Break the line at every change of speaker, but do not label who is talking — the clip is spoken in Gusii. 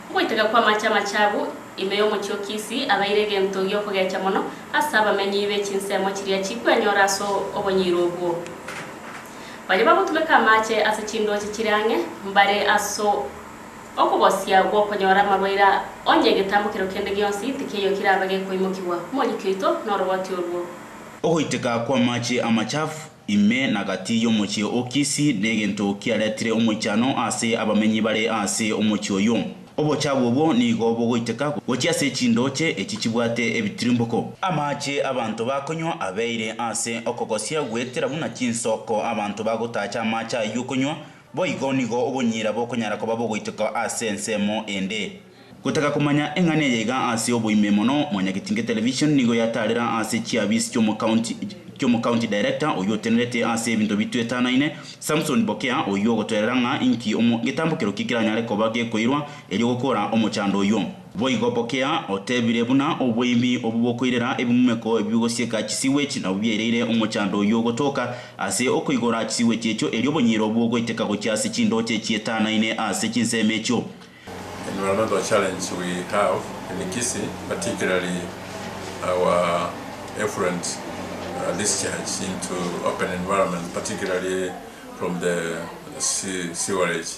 Ogoiteka kw'amache amachabu ime y'omochie o Kisi abeire egento gi'okogecha mono ase abamenyi be chinsemo chiria chikwenyora ase obonyiiro obwo. Baria bagotumeka amache ase chindooche chire ang'e mbare ase okogosia gw'okonyora amarwaire onye egetambo kero kende gionsi tikeiyo kerabe gekoimokigwa. Moriki oito noroboti orwo. Ogoiteka
kw'amache amachafu Ime na gati y'omochie o Kisi negento kiaretire omoichano ase abamenyi bare ase omochie oyio. Obochia bw'obwo nigo bogoiteka gochia ase chindooche echi chibwate ebitirimboko. Amaache abanto bakonywa abeire ase okogosia goetera buna chinsoko. Abanto bagotaacha amaache ayio okonywa Boigo nigo obonyira bokonyara koba bogoiteka ase ensemo ende. Gotaka komanya eng'ana eye iga ase oboime mono, Mwanyagetinge Television nigo yataarera ase chiabiisi chi'omocounty chi'omocounty director oyio otenerete ase ebinto bitwetanaine, Samson Bokea, oyio ogotoerera ng'a inki omo getambokero ki keranyare koba gekoirwa erio gokora omochando oyio. Boigo pokea, otebire buna oboimi obwo bokoirera ebimumeko ebi bigosieka chisiwechi nabwo biaireire omochando oyio ogotoka ase okoigora chisiwechi echio erio obonyiro obwo ogoiteka gochia ase chindooche chietanaine ase chinsemo echio. Emeroro
the challenge we have in Kisii particularly our effluent discharge into open environment particularly from the sewerage.